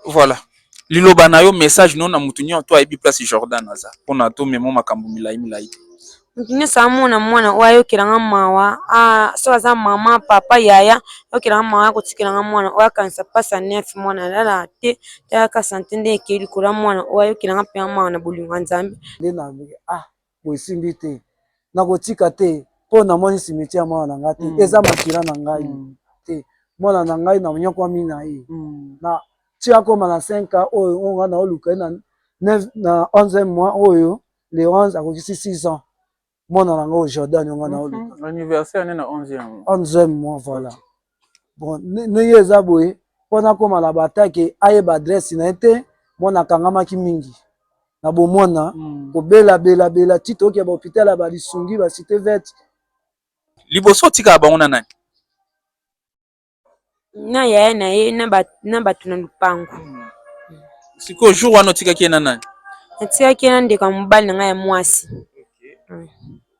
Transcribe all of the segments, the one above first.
Voilà. Liloba na yo message no na mutu nyo to ayebi place Jordan aza pona to memo makambo milayi milayi. Mutu nyonso amona mwana oyo ayokela nga mawa ah, soki aza mama papa yaya ayokela nga mawa akotikela nga mwana oyo akanisa mpasi ya nef mwana alala te tala ka sante nde ekei likolo ya mwana oyo ayokela nga mpe nga mawa na bolingo ya nzambe nde na ah boye esimbi te nakotika te mpo namoni cimetière ya mwana na ngai te eza makila na ngai te mwana na ngai na nyokwami na ye na ti akoma na 5 ans oyo oyo ngai naoluka ye na na 11 mois oyo le 11 akokisi 6 ans mwana na ngai oyo jordan oyo ngai naoluka anniversaire ne na 11 mois voilà bon ndenge eza boye mpo nakoma na batake ayeba adresse na ye te mwana akangamaki mingi na bomwana mm. kobela bela bela ti toyoki ya bahopital ya balisungi basite vete liboso otikala bango na nani na yaya na ye na bato na lupango mm. sikoyo jour wana otikaki ye na nani natikaki ye na ndeko ya mobali na ngai ya mwasi okay. mm.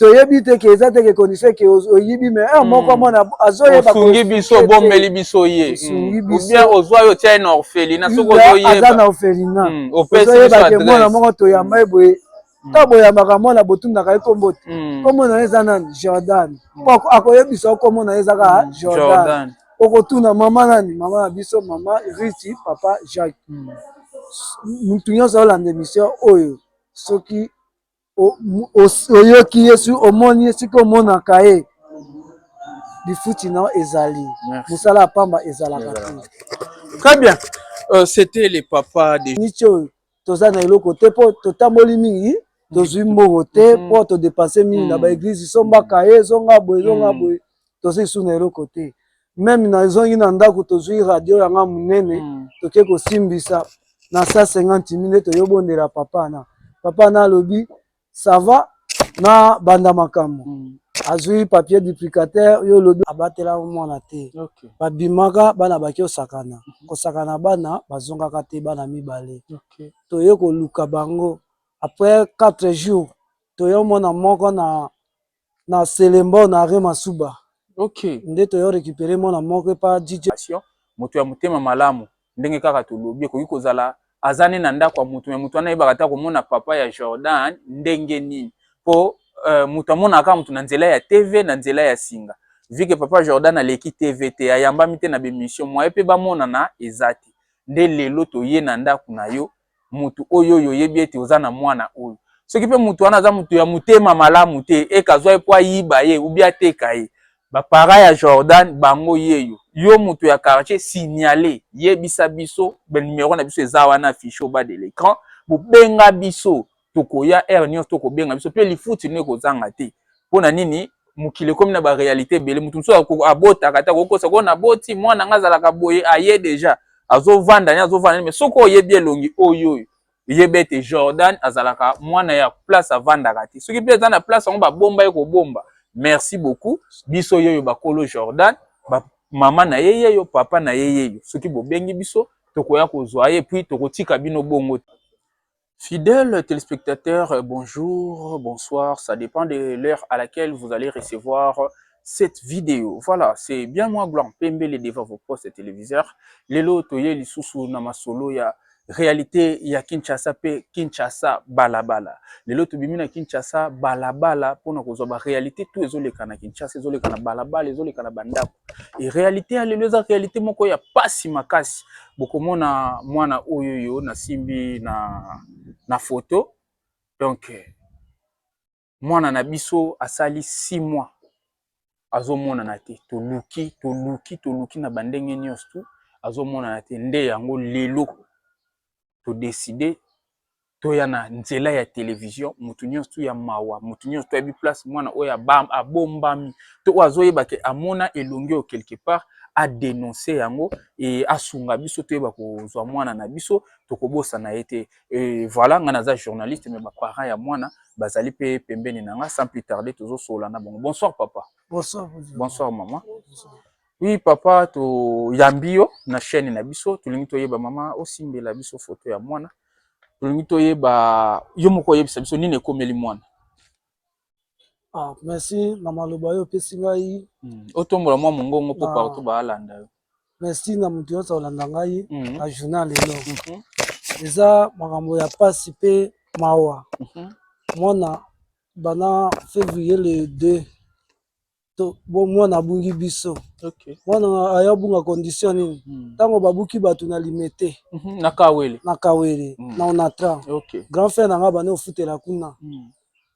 toyebi te ke eza te ke condition ke oyibi mais heure moko hmm. mwana azoyeba osungi biso obombeli biso ye hmm. ou bien ozwa yo tia ye na orphelina soki ozoyeba aza na orphelina hmm. ozoyeba ke mwana moko toyamba ye boye ntango boyambaka mwana botundaka ye nkombo te nkombo na ye eza nani jordan po akoyebisa nkombo na ye eza kaka jordan okotuna mama nani mama na biso mama riti papa jacques mutu nyonso aolanda emission oyo soki oyoki ye soki omoni ye soki omonaka ye lifuti na yo ezali mosala ya pamba ezalaka te très bien euh, c'était le papa de niche oyo toza na eloko te mpo totamboli mingi tozwi mbongo te mpo mm-hmm. todepanse mingi na mm-hmm. baeglize sombaka ye ezonga boye ezonga mm-hmm. boye toza lisusu na eloko te meme nazongi na ndako tozwi radio yanga monene mm. toke kosimbisa na 150 mille toyobondela papa na papa na alobi sava na banda makambo mm. azwi papier duplicateur yo olobi abatela mwana te okay. babimaka bana baki osakana mm -hmm. kosakana bana bazongaka te bana mibale okay. toye koluka bango après 4 jours toye omona moko na na selembo na re masuba okay nde toyo recupere mwana moko epa DJ Passion moto ya motema malamu ndenge kaka tolobi ekoki kozala aza ne na ndako ya moto me moto wana ayebaka ata komona papa ya Jordan ndenge nini po euh, moto amonaka kaka moto na nzela ya TV na nzela ya singa vu que papa Jordan aleki TV te ayambami te na bemission moye pe bamonana eza te nde lelo toye na ndako na yo mutu oyo oyo oyebi ete oza na mwana oyo soki mpe mutu wana aza mutu ya motema malamu te eka azwa ye mpo ayiba ye ubi ateka ye bapara ya jordan bango yeyo yo mutu ya quartier signale yebisa biso banimero na biso eza wana affiche oba de lecran bobenga biso tokoya heure nyonso to kobenga biso mpe lifuti lino ekozanga te mpo na nini mokili ekomi na barealité ebele moto mosusu abotaka ata kokosa koo naboti mwana ngai azalaka boye aye deja azovanda ni azovanda ni me soki oyebi elongi oyo oyo yeba ete jordan azalaka mwana ya place avandaka te soki mpe eza na place yango babomba ye kobomba merci beaucoup biso yeyo bakolo jordan mama na ye yeyo papa na ye yeyo soki bobengi biso tokoya kozwa ye puis tokotika bino bongo te Fidèles téléspectateurs, euh, bonjour, bonsoir, ça dépend de l'heure à laquelle vous allez recevoir euh, cette vidéo. Voilà, c'est bien moi, Gloire Pembele, devant vos postes téléviseurs. Lelo, toye lisusu na masolo ya réalité ya Kinshasa pe Kinshasa balabala. Lelo, tobimi na Kinshasa balabala, pona kozwa ba réalité, tout ezoleka na Kinshasa, ezoleka na balabala, ezoleka na bandako. Realite ya lelo eza realite moko ya pasi makasi. Bokomona mwana oyo oyo nasimbi na, na foto donc mwana na biso asali six mois azomonana te, toluki toluki toluki na bandenge nyonso tu azomonana te, nde yango lelo to decider toya na nzela ya television mutu nionso ya mawa mutu nionso toyebi place mwana oyo abombami to oyo azoyeba ke amona elongi oyo quelque part a denoncer yango et asunga biso toyeba kozwa mwana na biso tokobosana ye te et voilà nga naza journaliste mais ba parents ya mwana bazali mpe pembeni na nga sans plus tarder tozosolola na bango bonsoir papa bonsoir bonsoir maman bonsoir. Oui papa toyambi yo na chaine na biso tolingi toyeba mama osimbela biso foto ya mwana tolingi toyeba yo moko oyebisa biso nini ekomeli mwana ah, merci na maloba yo opesi ngai hmm. otombola mwa mongongo mpo ah. partout baalanda yo merci na moto nyonso olanda ngai hmm. na journal lelo mhm. eza makambo ya mpasi mpe mawa mhm. mwana bana février le 2 to bo mwana abungi biso okay. mwana aya abunga condition nini hmm. ntango babuki bato na limete mm -hmm. na kawele na kawele mm. na onatra okay. grand frère na ngai abandi ofutela kuna mm.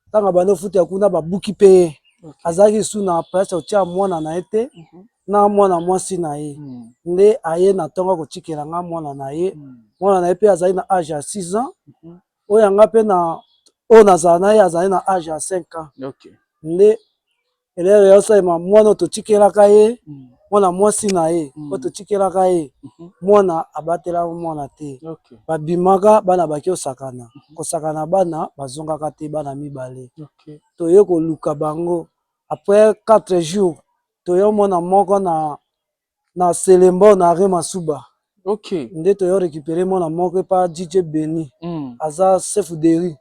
ntango hmm. abandi ofutela kuna babuki mpe ye okay. azalaki su na place otya mwana na ye te mm -hmm. na mwana mwasi na ye mm. nde aye na ntongo akotikela ngai mwana na ye mm. mwana na ye mpe azali na age ya 6 ans mm -hmm. oyo ya nga mpe na oyo nazala na ye azali na age ya 5 ans okay. nde elele ya osalema mwana oyo totikelaka ye mm. mwana mwasi na ye mm. oyo totikelaka ye mhm. mwana abatelaka mwana te okay. babimaka bana baki osakana mhm. kosakana bana bazongaka te bana mibale okay. toye koluka bango après 4 jours toye omona moko na na Selemba na Arret Masuba. Ok. Nde toyo recuperer mwana moko epa DJ Benny. Hum. Aza chef de rue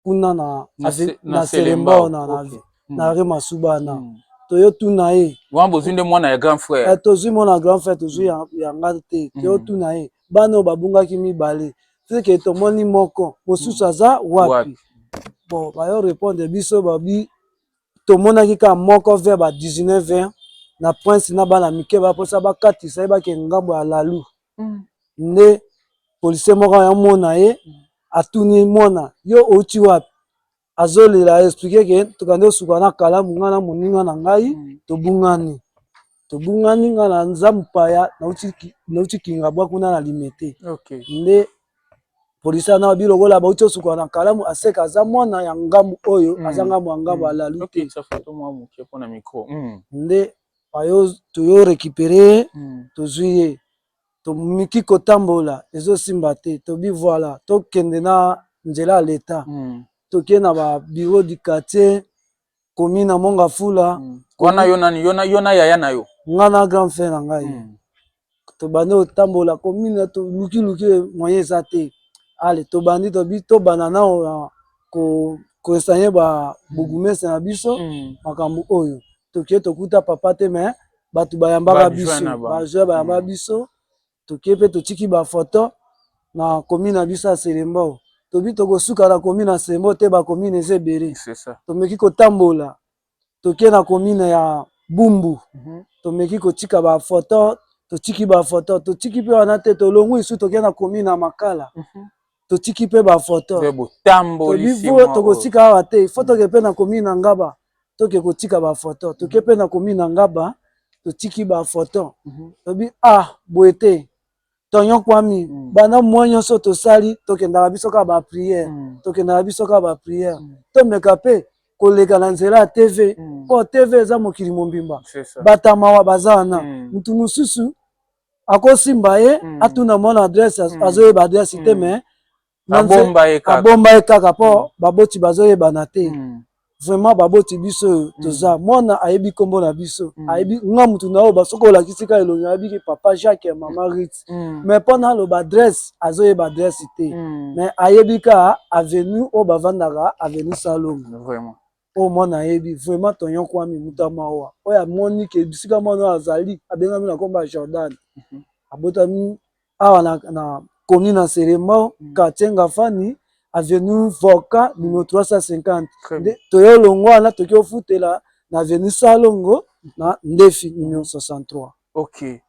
kuna na Na ave- se- na na Selemba Selemba, na na ok. Hum. na Arret Masuba na. Hum. Toyo tuna ye. Wana bozwi nde mwana ya grand frère. Eh, tozwi mwana grand frère tozwi ya, ya nga te Mm. toyo tuna ye bana oyo babungaki mibale teke tomoni moko mosusu aza wapi Wapi? bon bayo répondre biso babi tomonaki kaka moko vers ba 19 heures na prince na bana mike baposa bakatisa ye bakende ngambo ya lalu mm. nde policier moko ayamona ye atuni mwana yo outi wapi azolela explike ke tokande osuka na kalamu ngai na moninga na ngai mm. tobungani tobungani nga na nza mupaya nauti kingabwa kuna na limete okay. nde polisi ana bi lokola bauti osukola na kalamu aseka aza mwana ya ngambu oyo mm. aza ngambu ya ngambu mm. alali te mm. nde ayo toyo récupere mm. tozwi ye tomiki kotambola ezosimba te tobi voilà tokende na nzela ya leta mm. toke na ba bureau du quartier komi na monga fula mm. wana yo nani yo na yo na yaya na yo nga na grand frère na ngai mm. tobandi otambola komi na to luki luki moyen eza te ale tobandi tobi tobanda na ko koesanye ba mm. bugumese na biso mm. makambo oyo tokie tokuta papa te mais bato bayambaka biso bajoi bayambaka mm. biso toke pe totiki ba photo na commune na biso ya selembao tobi tokosuka na commune ya selembao te ba commune eza ebele tomeki kotambola toke na commune ya bumbu tomeki kotika ba photo totiki ba photo totiki pe wana te tolongui lisusu toke na commune ya makala totiki mpe ba photo mpe botambolisi mwa oyo tokotika awa te faut toke mpe na commune ya ngaba toke kotika ba photo toke mpe na commune ya ngaba totiki ba photo tobi ah boye te tonyon kwami banda mwa nyonso tosali tokendaka biso kaka ba prière tokendaka biso kaka ba prière tomeka mpe koleka na nzela ya tv mpo tv eza mokili mobimba bato ya mawa baza wana moto mosusu akosimba ye mm. atuna mwana adresse mm. azoyeba adresse mm. te mais abomba ye kaka, abomba ye kaka mpo mm. baboti bazoyebana te mm. vraiment baboti biso oyo mm. toza mm. mwana ayebi nkombo na biso mm. ayebi nga motu na oyo basoki olakisi ka elongi ayebiki papa jacques ya mama mm. rit mm. mais mpo na aloba adresse azoyeba adresse te mm. mais ayebi ka avenue oyo bavandaka avenue salongo vraiment Oyo mwana ayebi vraiment tonyon kwami mutu ya mawa oyo amoni ke bisika mwana oyo azali abengami na kombo ya Jordan abotami awa na, na commune ya Selembao quartier Ngafani avenue Volcan numero 350 Très nde toyo longwa wana toki ofutela na avenue Salongo na Ndefi numero 63 Okay.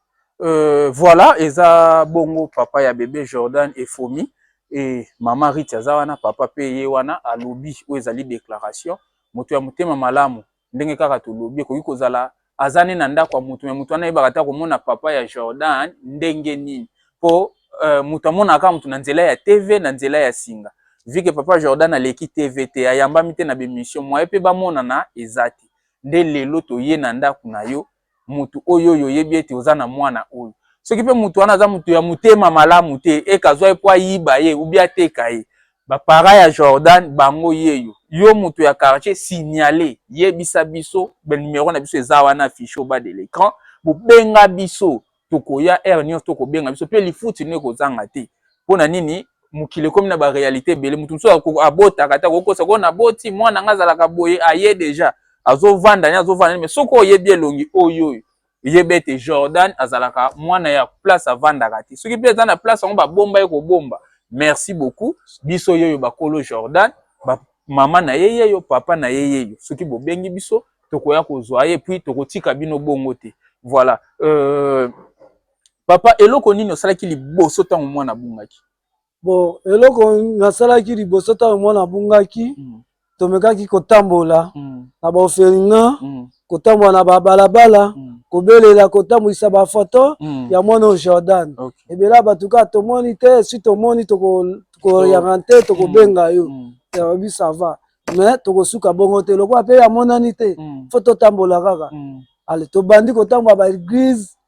Euh, voilà eza bongo papa ya bebe Jordan efomi et maman Rich aza wana papa pe ye wana alobi oyo ezali déclaration moto ya motema malamu ndenge kaka tolobi ekoki kozala aza ne na ndako ya moto me moto wana ayebaka ata komona papa ya Jordan ndenge nini po euh, moto amonaka kaka moto na nzela ya TV na nzela ya singa vu que papa Jordan aleki TV te ayambami te na bemission moye pe bamonana eza te nde lelo toye na ndako na yo mutu oyo oyo oyebi ete oza na mwana oyo soki mpe mutu wana aza mutu ya motema malamu te eke azwa ye mpo ayiba ye ubi ateka ye bapara ya jordan bango yeyo yo mutu ya quartier signale yebisa biso banimero na biso eza wana affiche oba de lecran bobenga biso tokoya heure nyonso to kobenga biso mpe lifuti nde kozanga te mpo na nini mokili ekomi na barealité ebele moto mosusu abotaka ata kokosa koo naboti mwana ngai azalaka boye aye deja azovanda ni azovanda ni me soki oyebi elongi oyo oyo yeba ete jordan azalaka mwana ya place avandaka te soki mpe eza na place yango babomba ye kobomba merci beaucoup biso yoyo bakolo jordan mama na ye yeyo, papa na ye yeyo. Soki bobengi biso, tokoya kozwa ye, puis tokotika bino bongo te. Voilà. Euh, papa, eloko nini osalaki liboso ntango mwana abungaki? Bon, eloko nasalaki liboso ntango mwana abungaki, mm. tomekaki kotambola mm. na baofelina mm. kotambola na babalabala mm. kobelela kotambwisa bafoto mm. ya mwana oyo Jordan okay. ebela bato kaka tomoni te esi tomoni toko tokoyaka te mm. tokobenga yo mm. yabi sava me tokosuka bongo te lokola mpe amonani te mm. fo totambola kaka ale tobandi kotambola baeglize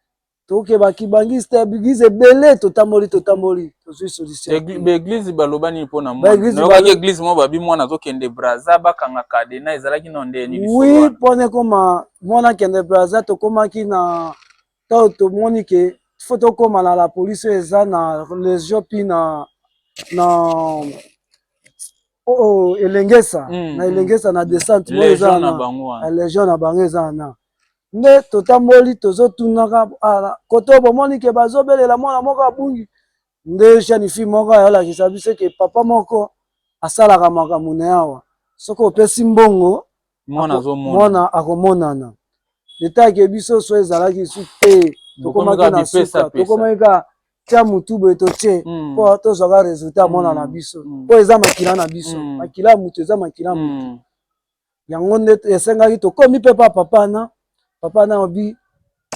toke bakibangiste eglize ebele totamboli totamboli tozwi solutionbaeglize baloba nini mpo na mwanayokaki eglize moko babi mwana azokende braza bakanga kadena ezalaki no nde nini wi mpo na ekoma mwana akende braza tokomaki na tango tomoni ke il faut tokoma na la police oyo eza na region puis na na oh, oh, elengesa mm, na elengesa mm, na descente oyo eza na legion na bango eza na nde totamboli tozotunaka ah, koto bomoni ke bazobelela mwana moko abungi nde jeune fille moko ayolakisa biso ke papa moko asalaka makambo na yawa soki opesi mbongo mwana akomonana leta ake biso so ezalaki su te tokomaki na suka tokomaki ka tia motu boye totie hmm. mpo tozwaka resultat mwana na hmm. biso mpo hmm. eza makila na biso makila ya motu eza makila ya motu yango nde esengaki tokomi mpe pa papa na papa na obi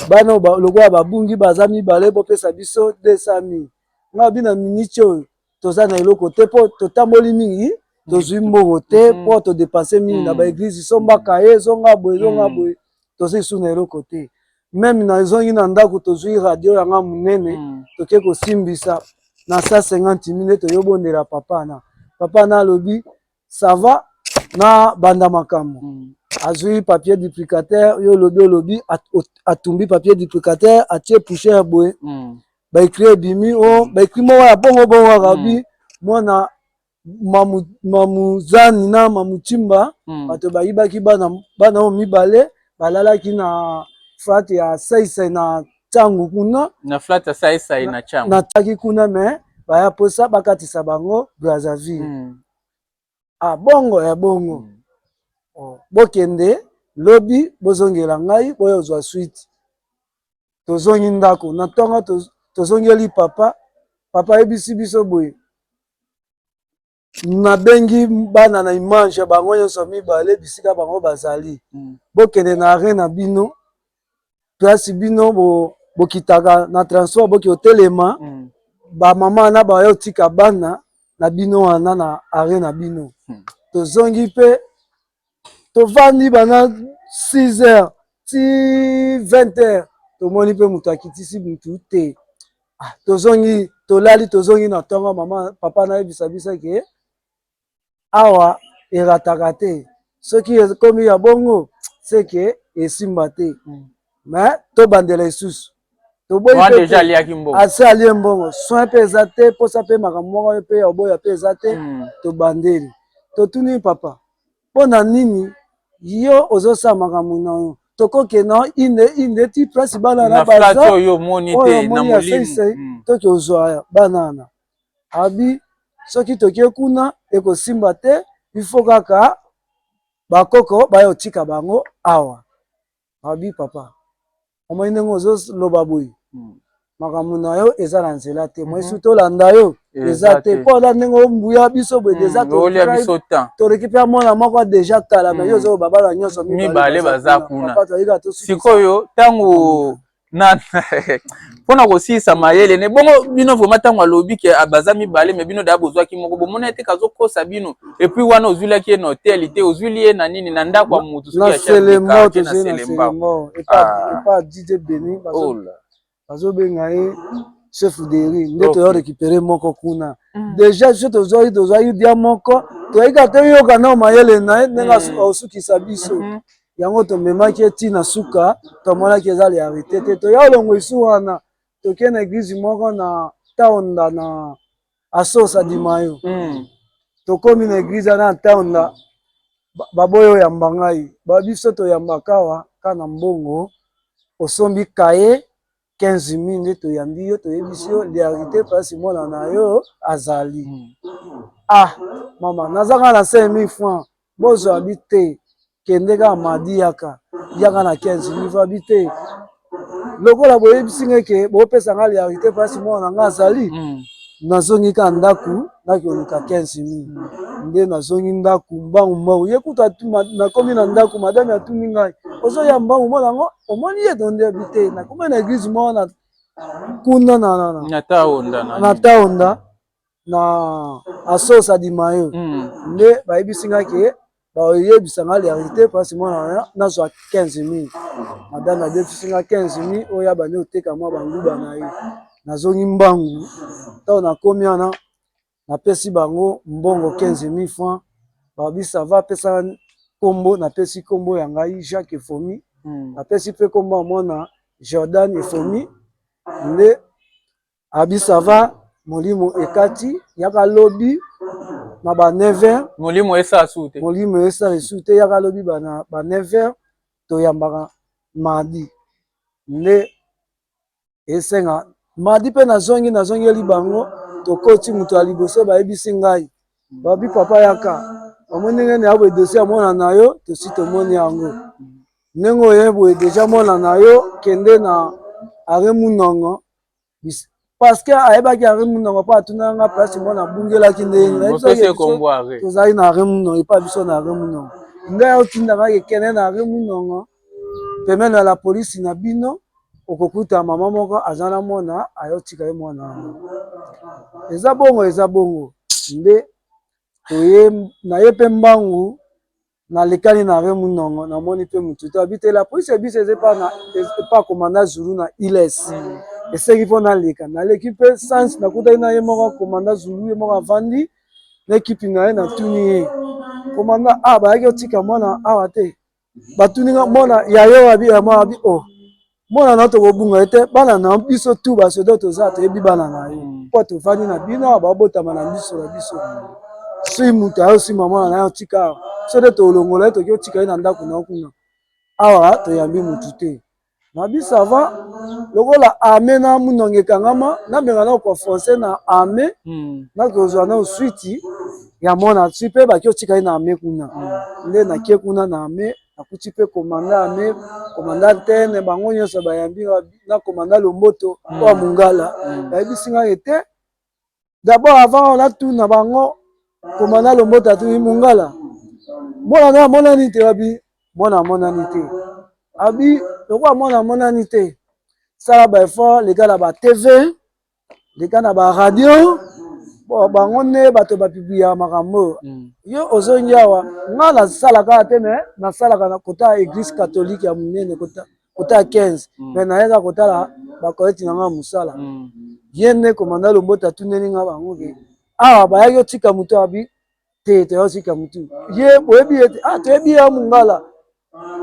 bana lokola babungi baza mibale bopesa biso 200 mille nga obi na miniti oyo toza na eloko te mpo totamboli mingi tozwi mbongo te mm. mpo todepanse mingi na mm. baeglize sombaka ye ezonga boye ezonga mm. boye tozwi lisusu na eloko te meme na ezongi na ndako tozwi radio yanga monene toke kosimbisa na sa 50 mille toyobondela papa na papa na alobi ça va na banda makambo mm. azwi papier duplicateur yo olobi olobi atumbi papier duplicateur atie poussière boye mm. baekri ebimi o oh, mm. baekri moko ya bongo bongo akabi mm. mwana mamu, mamuzani na mamutimba mm. bato bayibaki bana bana oyo mibale balalaki na fat ya saisai na cango kuna na flat asaisai na cango nataki kuna me baya posa bakatisa bango brazzaville mm. ah, bongo ya bongo mm. oh, bokende lobi bozongela ngai boya ozwa swite tozongi ndako na ntongo tozongeli papa papa ayebisi biso boye nabengi bana na image ya bango nyonso mibale bisika bango bazali mm. bokende na arret na bino place bino bo, bokitaka na transport boki otelema mm. bamama na baye otika bana na bino wana na arret na bino mm. tozongi mpe tovandi banda 6 heures ti 20 heures tomoni mpe moto akitisi mutu te ah, tozongi tolali tozongi na ntongo mama papa nayebisa biso ke awa erataka te soki ekomi ya bongo seke esimba te mais tobandela esusu toboyi asi alie mbongo soin mpe eza te mposa mpe makambo moko mpe ya oboya mpe eza te hmm. tobandeli totuni papa mpo na nini yo ozosala makambo na yo tokoke na inde inde ti place bana na baza oyo omoni ya seisei hmm. to tozwa bana wana abi soki tokie kuna ekosimba te ifo kaka bakoko baya otika bango awa Rabbi papa omoni ndenge ozo loba boye hmm. makambo na yo eza na nzela te moi mhm. su tolanda yo eza te mpo ola ndenge ombuya biso boye hmm, deja toleki mpe mwana moko deja kala me yo hmm. ozoloba bana nyonso mibale baza kuna sikoyo ntango na mpona kosilisa mayele ne bongo bino vrema ntango alobi ke ah, baza mibale me bino daya bozwaki moko bomona ete kazokosa bino epuis wana ozwilaki ye na hotel te ozwili ye na nini na ndako ya motu soki ya selembao bazobenga ye chef deri nde okay. toya récupérer moko kuna mm. déjà biso tozwaki tozwaki dia moko toyaki ata yoka nao mayele na ye ndenge mm. osukisa biso mm -hmm. Yango tomemaki ye ti na suka, tomonaki eza realite te, toya olongwesu wana toke na eglise moko na Taonda na Asos Adimayo mm. tokomi na eglise wana na Taonda baboyi oyamba ngai ba biso toyambaka awa ka na mbongo osombi kaye 15 min nde toyambi yo toyebisi yo learite pasi mwana na yo azali ah mama naza kaka na 5000 franc bozwa bi te kende kaka madi yaka yaka na 15 min va bi te lokola boyebisi ngai ke bopesa ngai learite pasi mwana na ngai azali hmm. nazongi kaka ndako nakoluka 15 min hmm. nde nazongi ndako mbangu mbangu ye kutu nakomi na ndako madame atuni ngai ozoya mbangu mwana yango omoni ye tondi abi te nakoma na eglise moko na kuna na na na na taonda na na taonda na asosa di mayo mm. nde bayebisi nga ke bayebisa nga verite mpasi mwana wana nazwa 15 mil madame abebisi nga 15 mil oyo ya bande oteka mwa banguba na ye nazongi mbangu ntango nakomi wana na pesi bango mbongo 15000 francs balobi sava pesa kombo na pesi kombo ya ngai jacques efomi na pesi pe kombo ya mwana jordan efomi nde abi sava molimo ekati yaka lobi na ba 9h molimo esa su te molimo esa su te yaka lobi ba na ba 9h toyambaka mardi nde esenga madi mpe nazongi nazongeli bango tokoti moto ya liboso bayebisi ngai babi papa yaka bamoni ndenge na yaboye dosi ya mwana na yo tosi tomoni yango ndenge oye boye deja mwana na yo kende na are munongo parceke ayebaki are munongo mpo atunaka nga place mwana abungelaki ndenge tozali na are munongo epa biso na are munongo ngai otindaka ekende na are munongo Pembeni ya la police na bino okokuta mama moko aza na mwana ayotika ye mwana wana eza bongo eza bongo nde toye na ye mpe mbangu na lekani na re munongo na moni mpe motu to abite la police ya biso eza epa komanda zulu na iles eseki mpo naleka naleki mpe sans nakutaki na ye moko komanda zulu ye moko avandi na ekipi na ye na tuni ye komanda a ah, bayaki otika mwana awa te batuni nga mwana yayo abi ya mwana abi oh mwana na tokobunga ete bana na biso tu basodo toza toyebi bana na yo mpo tovandi na bino awa babotama na miso na biso sui moto ayo sima mwana na yo tika awa so nde tolongola ye toki otika ye na ndako na yo kuna awa toyambi motu te Na bi ça va lokola ame na munongi ekangama nabenga nao kua français na ame hmm. nakozwa nao switi ya mwana ti mpe baki otika ye na ame kuna hmm. nde nakie kuna na ame nakuti mpe komanda ame komanda tene bango nyonso bayambi na komanda lomboto oya hmm. mongala bayebisi ngai ete D'abord avant on a tout na bango komanda lombota atuni mongala mwana na amonani te wabi mwana amonani te abi lokola mwana amonani te sala ba effort leka na ba tv leka na ba radio bo bango nde bato bapibliaka makambo oyo mm. yo ozongi awa ngai nasalaka te me nasalaka na kota ya eglise catholique ya monene kota kota 15 mm. me naye kaka kotala bakoleti na ngai mosala mm. ye nde komanda lombota atuneli ngai bango ke awa bayaki otika motu abi te toyotika motu ye boyebi ye te ah toyebi ye ya mongala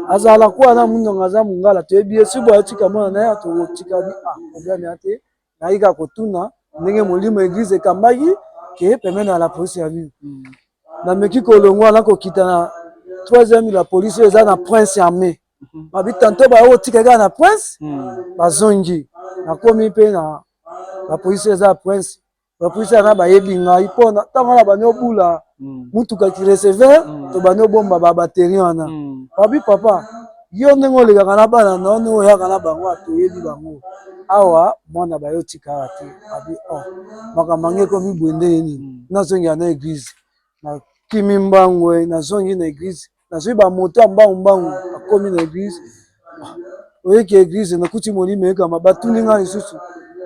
azala kuwa na mondongo aza mongala toyebi ye sibo ayotika mwana naye atokotika bi ah problème ya te nayi kaka kotuna ndenge molimo eglise ekambaki ke pembeni ya la police ya nini mm. nameki kolongwa nakokita na troisième la police eza na prince armée babi tanto baye otika kaka na prince hmm. bazongi nakomi mpe na bapolisi eza ya prince bapolisi yana bayebi ngai mpo ntango wana bani obula hmm. motuka kireceveur hmm. to bani obomba babateri wana babi papa yo ndenge olekaka na bana na ndenge oyaka na bango atoyebi bango awa mwana baye otikaka te babi o oh, makambo yango ekomi boye ndenge nini nazongela na eglize nakimi mbangwe nazongi na eglize nazwi ba moto ya mbangu mbangu akomi na eglise oyeki eglise nakuti molimo ekama batuni nga lisusu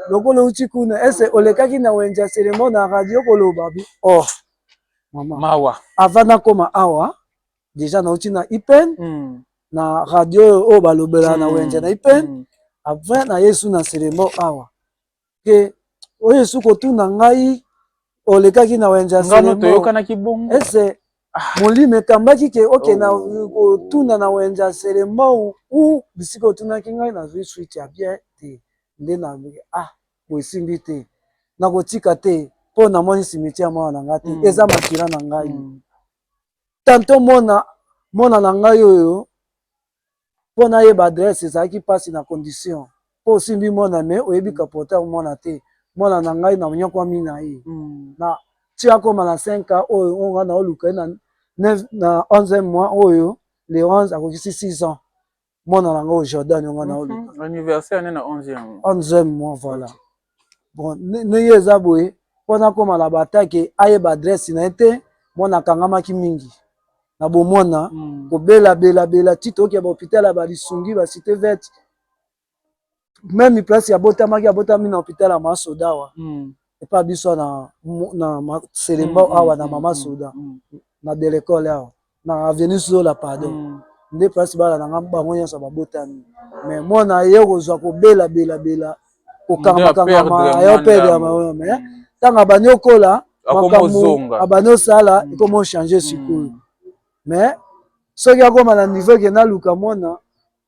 lokola outi kuna ese olekaki na wenze ya selemo na radio koloba bi oh mama mawa avant nakoma awa deja nauti na ipen mm. na radio oyo balobela mm. na wenze na ipen mm. après na yesu na selemo awa ke oyo esu kotuna ngai olekaki na wenze ya ngano toyokanaki bongo ese ah. molimo ekambaki ke oke na oh. kotuna na wenze ya selembau u bisika otunaki ngai nazwi swite ya bien te nde na ah boesimbi te nakotika te mpo namoni simetiere mwana na ngai te mm. eza makila na ngai mm. tanto mwana mwana na ngai oyo po nayeba adresse ezalaki pasi na condition po osimbi mwana mais oyebi ka porter ya mwana te mwana na ngai na nyokwami na ye na ti akoma na cinq ans oyo oyo ngai naoluka ye na neuf na onzieme mois oyo le onze akokisi six ans mwana na ngai oyo Jordan oyo ngai naoluka anniversaire ne na onzieme mois voilà bon ndenge eza boye mpo nakoma na batake ayeba adresse na ye te mwana akangamaki mingi na bomwana mm. kobela bela bela ti toyoki ya bahopital ya balisungi basite verte meme place abotamaki abotami na hopital ya masodawa mm. epa biso na, na selemba mm, mm, awa na mama soda na delekole awa na avenue Zola pardon mm. nde place bana na nga bango nyonso babotami mais mwana ye kozwa kobela bela bela kokangamakangama ayo pede ya mawe mais ntango abandi okola makambo abandi osala mm. ekoma ochange sikoyo mm. mais soki akoma na niveau eke naluka mwana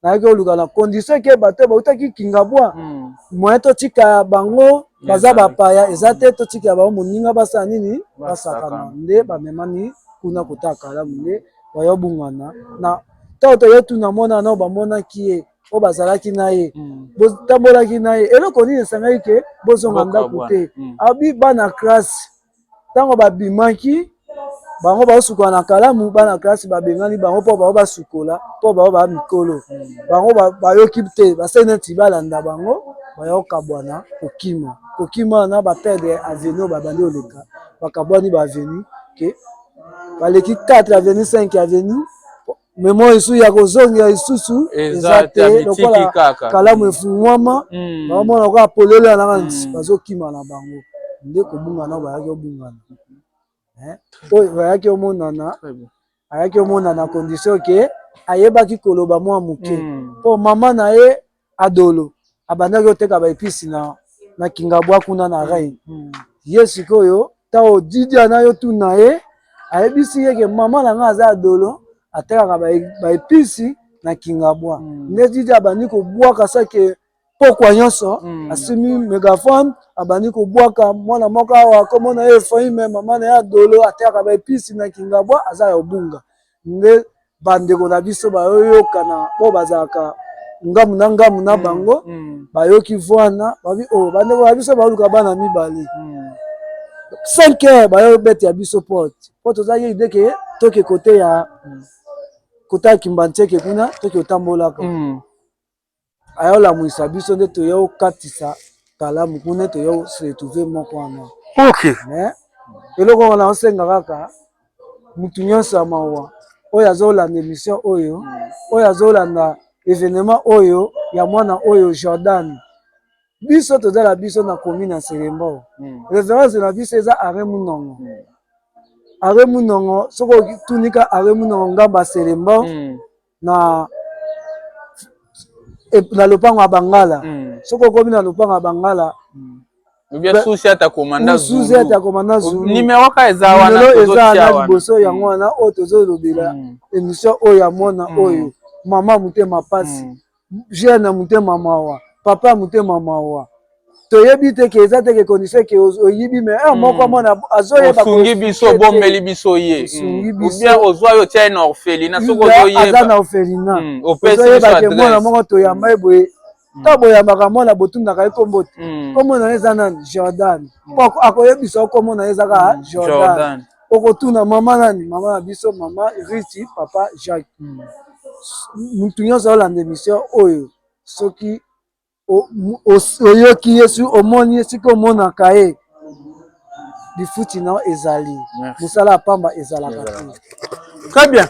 nayaki oluka na condition ke bato bautaki kingabwa hmm. moyen totika bango baza bapaya eza te totikela bango moninga basala nini basakana nde bamemani kuna kotala kalamu nde bayo bungana na ntango toye tuna mwana nao bamonaki ye oyo bazalaki na ye hmm. botambolaki na ye eloko nini esangaki ke bozonga ndako te hmm. abi bana classe ntango babimaki bango baosukola na kalamu, bana kelasi babengani bango mpo bango basukola mpo bango baa mikolo. Bango bayoki te, basali neti balanda bango, bayokabwana kokima kokima wana bapedre aveni oyo babandi oleka bakabwani ba aveni ke baleki 4 aveni 5 aveni Memoire lisusu ya kozongela lisusu eza te, lokola kalamu mm. efungwama mm. baomona lokola polele wana kaka mm. bazokima na bango nde kobungana oyo bayaki obungana eh? oyo bayaki omonana ayaki omonana condition ke ayebaki koloba mwa moke mpo mama na ye Adolo abandaki koteka ba epices na na Kingabwa kuna na Reine. Mm. Ye sikoyo ntango Didi ana yo tuna ye ayebisi ye ke mama na ngai aza Adolo atekaka ba epices na Kingabwa. Mm. Nde Didi abandi kobwaka sake pokwa nyonso mm. asimi megaphone abandi kobwaka mwana moko awa komona ye Efraime mama na ye Adolo atekaka ba epices na Kingabwa aza ya obunga. nde bandeko na biso bayoyokana oyo bazalaka ngambo na ngambo na bango bayoki vwana babi o oh, bandeko na biso baoluka bana mibale 5 heures bayo bete ya biso porte po tozalaki ide ke toke kote ya kotala kimbantieke kuna toke otambolaka aya olamwisa biso nde toya okatisa kalamu kuna ete toya se retrouver moko wana okay. mais eloko wana osenga kaka mutu nyonso ya mawa oyo azolanda emission oyo oyo azolanda evenement oyo ya mwana oyo jordan biso toza na biso na commune ya serembo mm. reference na biso eza are munongo mm. are munongo soki otunika are munongo ngamba serembo mm. na na lopango ya bangala mm. soki okomi na lopango ya bangala mm. susi ata komanda susi ata komanda zulu numero ka eza wana eza wana liboso yango mm. wana oyo tozolobela mm. émission oyo ya mwana mm. oyo mama motema pasi mm. jeune ya motema mawa papa ya motema mawa toyebi te ke eza te ke condition ke oyibi me heure moko hmm. mwana azoyeba osungi biso obombeli biso ye osungi hmm. bisobien ozwa yo tia ye na orphelina soki ozoyebaaza na orphelina hmm. ozoyeba ke mwana moko toyamba ye boye ntango boyambaka mwana botundaka ye nkombo te nkombo na ye eza nani jordan akoyebisa yo nkombo na ye ezaka jordan Okotuna mama nani? Mama na biso mama Rithy papa Jacques. Hmm. Mutu nyonso aolanda emission oyo soki oyoki ye soki omoni ye soki omonaka ye lifuti na ezali mosala ya pamba ezalaka te. Très bien.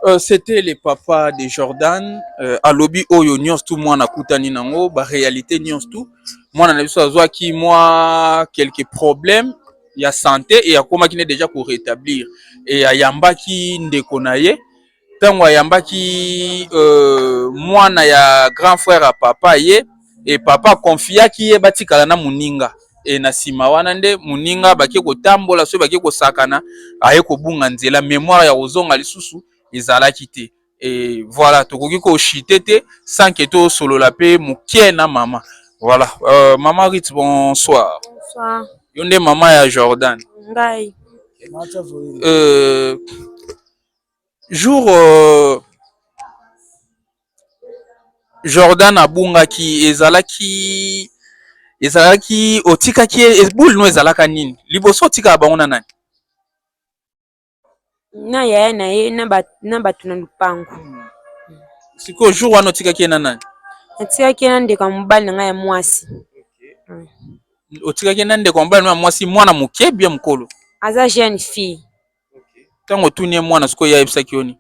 Euh, c'était le papa de Jordan euh, alobi oyo nyonso tu mwana akutani nango ba réalité nyonso tu mwana na biso azwaki mwa quelques problèmes ya sante e akomaki ne deja ko retablir e ayambaki ndeko na ye ntango ayambaki euh, mwana ya grand frère ya papa ye e papa akonfiaki ye batikala na moninga e na nsima wana nde moninga bake kotambola soki bake kosakana aye kobunga nzela memoire ya kozonga lisusu ezalaki te et voilà tokoki ko chite te sans que to solola pe mukie na mama voilà euh, mama Rit bonsoir bonsoir yo nde mama ya Jordan ngai euh, jour euh, Jordan abungaki ezalaki ezalaki otikaki boule no ezalaka nini liboso otikaka bango na nani na yaya na ye na bato na lopango. Sikoyo jour wana otikaki ye na nani? Natikaki ye na ndeko ya mobali na ngai ya mwasi. Otikaki ye na ndeko ya mobali ya mwasi, mwana moke bia mokolo? Aza jeune fille. Ntango otuni ye mwana sikoyo ye ayebisaki yo nini?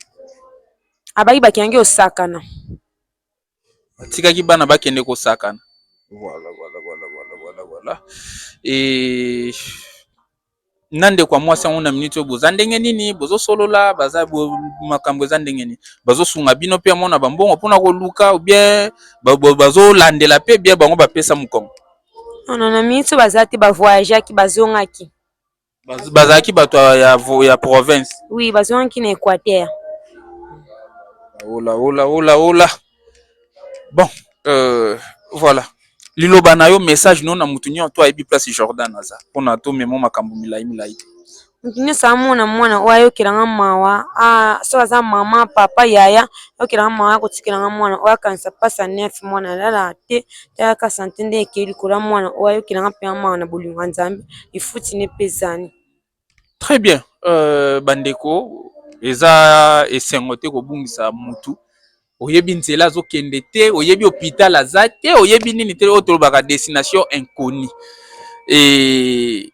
Abaki bakengi osakana. batikaki bana bakende kosakana voilà, voilà, voilà, voilà, voilà, voilà. E... na ndeko ya mwasi yango na miniti oyo boza ndenge nini bozosolola baza makambo eza ndenge nini bazosunga bino mpe amona bambongo mpona koluka obien bazolandela mpe bia bango bapesa mokongo ono na miniti oyo baza te bavoyageaki bazongaki bazalaki bato ya, ya province oui bazwaki na équateur ola ola ola ola bon euh, voilà liloba na yo message no na moto nyonso to ayebi place jordan aza mpo na tomemo makambo milai milai te moto nyonso amona mwana oyo ayokela nga mawa ah, soki aza mama papa yaya ayokela nga mawa akotikela nga mwana oyo akanisa mpasi ya neuf mwana alala te Yaka sante nde ekei likolo ya mwana oyo ayokela nga mpenza mawa na bolingo ya Nzambe lifuti na epesani. Très bien euh, bandeko eza esengo te kobungisa mutu oyebi nzela azokende te oyebi hôpital aza te oyebi nini te oyo tolobaka destination inconnue et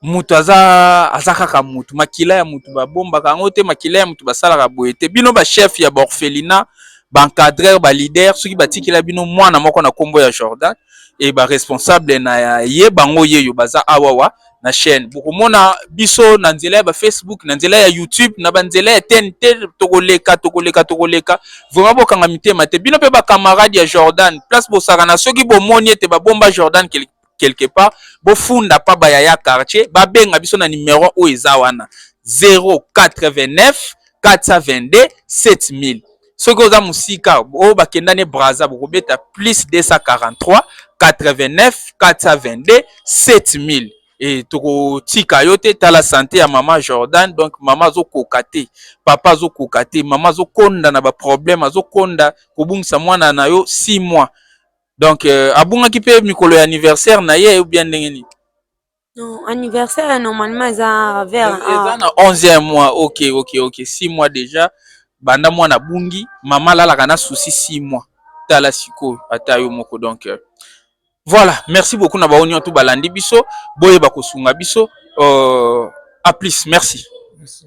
Mutu aza, aza kaka mutu makila ya mutu ba bombaka yango te, makila ya mutu ba salaka boye te. Bino ba chef ya ba orphelinat, ba encadreur, ba leader soki ba tikela bino mwana moko na kombo ya Jordan et ba responsable na ye bango yeyo baza awawa na chaine. Boko mona biso na nzela ya ba Facebook, na nzela ya YouTube, na ba nzela ya TNT toko leka, toko leka, toko leka. Vraiment bo kanga mitema te. Bino pe ba camarade ya Jordan place bo sakana soki bo moni ete ba bomba Jordan quelque quelque part bofunda pa ba yaya quartier babenga biso na numero oyo eza wana 089 422 7000 soki oza mosika oyo bakenda ne braza bokobeta plus 243 89 422 7000 e tokotika yo te tala sante ya mama jordan donc mama azokoka te papa azokoka te mama azokonda na baproblème azokonda kobungisa mwana na yo 6 mois donc euh, abungaki mpe mikolo ya anniversaire na ye ou bien ndenge nini non anniversaire normalement eza vers eza na 11e mois ok ok ok 6 mois déjà banda mwana abungi mama alalaka na souci 6 mois tala sikoyo ata yo moko donc euh, voilà merci beaucoup na baonio tout balandi biso boyeba kosunga biso euh, à plus merci, merci.